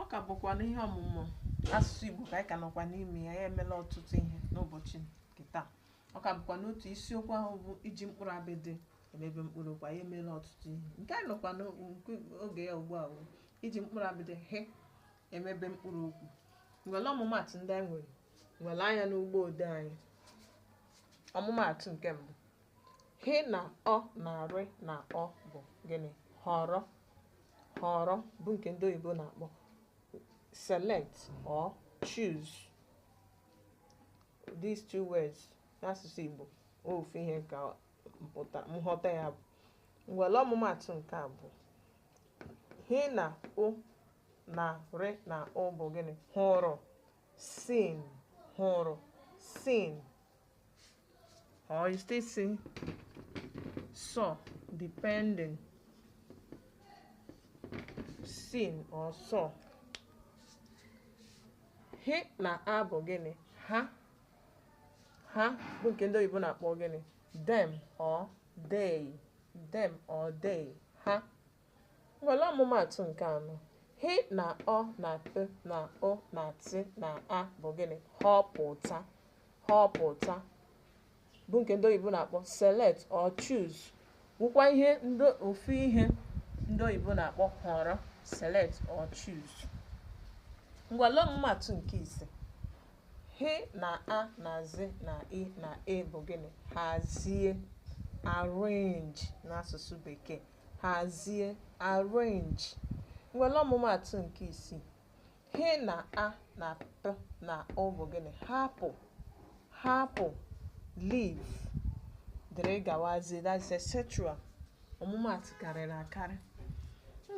ọ ka bụkwa n'ihe ọmụmụ asụsụ Igbo ka anyị ka nọkwa n'ime ya anyị emela ọtụtụ ihe n'ụbọchị nke taa ọ ka bụkwa n'otu isiokwu ahụ bụ iji mkpụrụ abịdị emebe mkpụrụ okwu anyị emela ọtụtụ ihe nke anyị nọkwa n'oge ya ugbu a bụ iji mkpụrụ abịdị hị emebe mkpụrụ okwu ngwa lee ọmụmaatụ ndị anyị nwere ngwa lee anya n'ụgbọ odee anyị ọmụmaatụ nke mbụ Hị na ọ na rị na ọ bụ gịnị? Họrọ. Họrọ bụ nke ndị oyibo na-akpọ select or choose. These two words n'asụsụ Igbo ofu ihe ka mpụta nghọta ya bụ ngwa lee ọmụmaatụ nke abụọ hị na ụ na rị na ụ bụ gịnị hụrụ seen hụrụ seen or you still say saw depending seen or saw hị na a bụ gịnị ha ha bụ nke ndị oyibo na-akpọ gịnị them or they them or they ha Ngwa lee ọmụmaatụ nke anọ. Hị na ọ na pị na ụ na tị na a bụ gịnị? Họpụta. Họpụta bụ nke ndị oyibo na-akpọ select or choose. Wụkwa ihe ofu ihe ndị oyibo na-akpọ họrọ select or choose. Ngwa lee ọmụmaatụ nke ise. Hị na a na zị na i na e bụ gịnị? Hazie. Arrange n'asụsụ bekee. hazie arrange ngwa lee ọmụmaatụ nke isii hị na a na pị na ụ bụ gịnị hapụ hapụ leave dịrị gawazie that's etc ọmụmaatụ karịrị akarị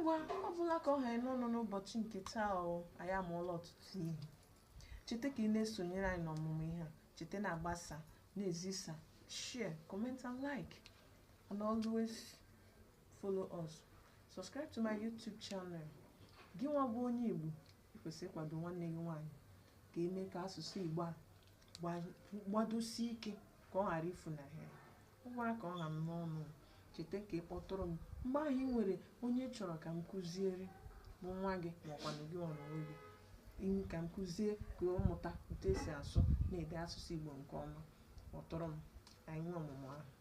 ngwa ọ bụla ka ọ ha anyị n'ọnụ n'ụbọchị nke taa o anyị amụọla ọtụtụ ihe cheta ka ị na-esonyere anyị n'ọmụmụ ihe a cheta na-agbasa na-ezisa share comment and like and always follow us subscribe to my youtube channel gị nwa bụ onye igbo i kwesị ịkwado nwanne gị nwaanyị ka e mee ka asụsụ igbo a gbadosie ike ka ọ ghara ifunahụ anyị ọ bụla ka ọ ha m n'ọnụ cheta ka ị kpọtụrụ m mgbe ahụ i nwere onye chọrọ ka m kụziere bụ nwa gị maọkwanụ gị onwe gị ka m kụzie ka ọ mụta otu e si asụ na ede asụsụ igbo nke ọma kpọtụrụ m anyị nwee ọmụmụ ahụ